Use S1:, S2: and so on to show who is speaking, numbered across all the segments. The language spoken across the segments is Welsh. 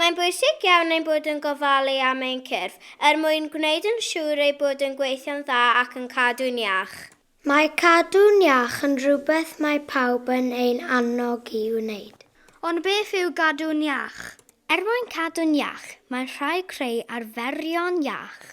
S1: Mae'n bwysig iawn ein bod yn gofalu am ein cyrff, er mwyn gwneud yn siŵr eu bod yn gweithio'n dda ac yn cadw'n iach. Mae cadw'n iach yn rhywbeth mae pawb yn ein annog i'w wneud. Ond beth yw gadw'n iach? Er mwyn cadw'n iach, mae'n rhaid creu arferion iach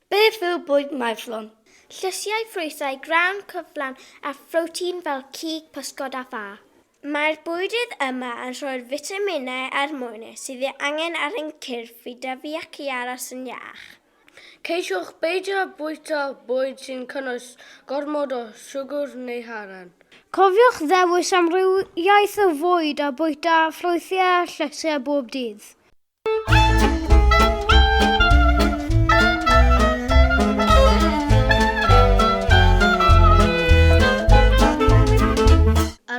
S1: Beth yw bwyd maethlon? Llysiau, ffrwythau, grawn, cyflawn a phrotein fel cig, pysgod a ffa. Mae'r bwydydd yma yn rhoi'r fitaminau a'r mwynau sydd ei angen ar ein cyrff i dyfu ac i aros yn iach. Ceisiwch beidio â bwyta bwyd sy'n cynnwys gormod o siwgr neu haren. Cofiwch ddewis amrywiaeth o fwyd a bwyta ffrwythau a llysiau bob dydd.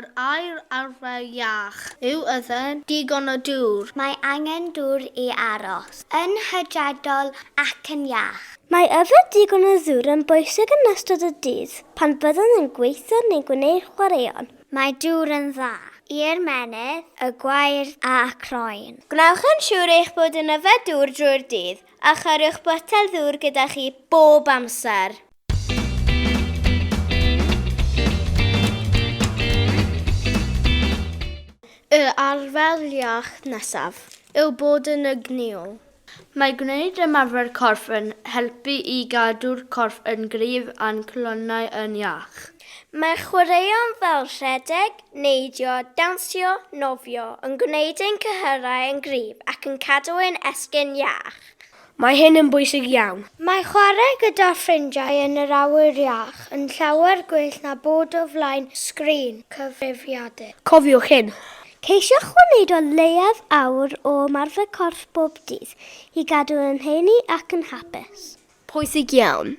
S1: Yr aer arfer iach. Yw yden digon o dŵr? Mae angen dŵr i aros. Yn hydredol ac yn iach. Mae yfed digon o ddŵr yn bwysig yn ystod y dydd pan fyddwn yn gweithio neu gwneud chwaraeon. Mae dŵr yn dda. I ymennydd, y gwair a croen. Gwnewch yn siŵr eich bod yn yfed dŵr drwy'r dydd, a chariwch botel ddŵr gyda chi bob amser. Y arfer iach nesaf yw bod yn egnïol. Mae gwneud ymarfer corff yn helpu i gadw'r corff yn gryf a'n calonnau yn iach. Mae chwaraeon fel rhedeg, neidio, dawnsio, nofio yn gwneud ein cyhyrau yn gryf ac yn cadw ein esgyrn iach. Mae hyn yn bwysig iawn. Mae chwarae gyda ffrindiau yn yr awyr iach yn llawer gwell na bod o flaen sgrin cyfrifiadur. Cofiwch hyn, Ceisiwch wneud o leiaf awr o ymarfer corff bob dydd, i gadw yn heini ac yn hapus. Pwysig iawn.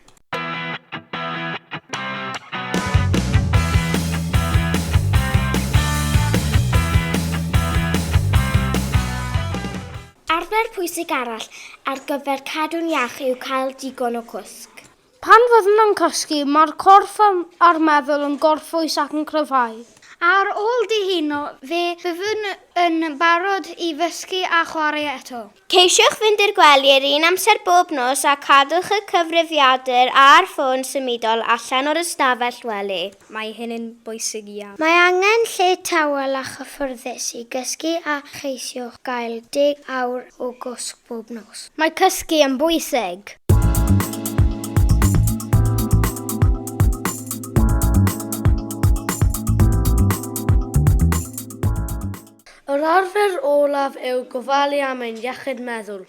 S1: Arfer pwysig arall ar gyfer cadw'n iach yw cael digon o gwsg. Pan fyddwn yn cysgu, mae'r corff a'r meddwl yn gorffwys ac yn cryfhau. Ar ôl dihuno, fe fyddwn yn barod i fysgu a chwarae eto. Ceisiwch fynd i'r gwely yr un amser bob nos a cadwch y cyfrifiadur a'r ffôn symudol allan o'r ystafell wely. Mae hyn yn bwysig iawn. Mae angen lle tawel a chyffyrddus i gysgu a cheisiwch gael deg awr o gwsg bob nos. Mae cysgu yn bwysig! Yr arfer olaf yw gofalu am ein iechyd meddwl.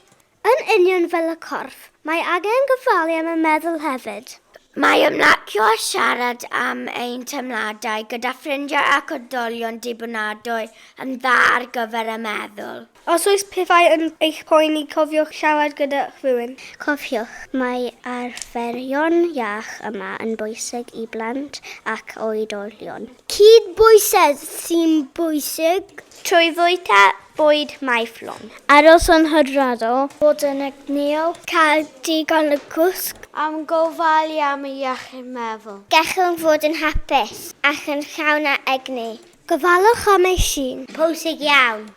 S1: Yn union fel y corff, mae angen gofalu am y meddwl hefyd. Mae ymlacio a siarad am ein teimladau gyda ffrindiau ac oedolion dibynadwy yn dda ar gyfer y meddwl. Os oes pethau yn eich poeni, cofiwch siarad gyda rhywun. Cofiwch, mae arferion iach yma yn bwysig i blant ac oedolion. Cydbwysedd sy'n bwysig. Trwy fwyta bwyd maethlon. Aros yn hydrado. Bod yn egnïol. Cael digon o gwsg. Am gofalu am ei iechyd meddwl. Gallwn fod yn hapus ac yn llawn â egni. Gofalwch am eich hun. Pwysig iawn.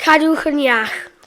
S1: Cadwch yn iach.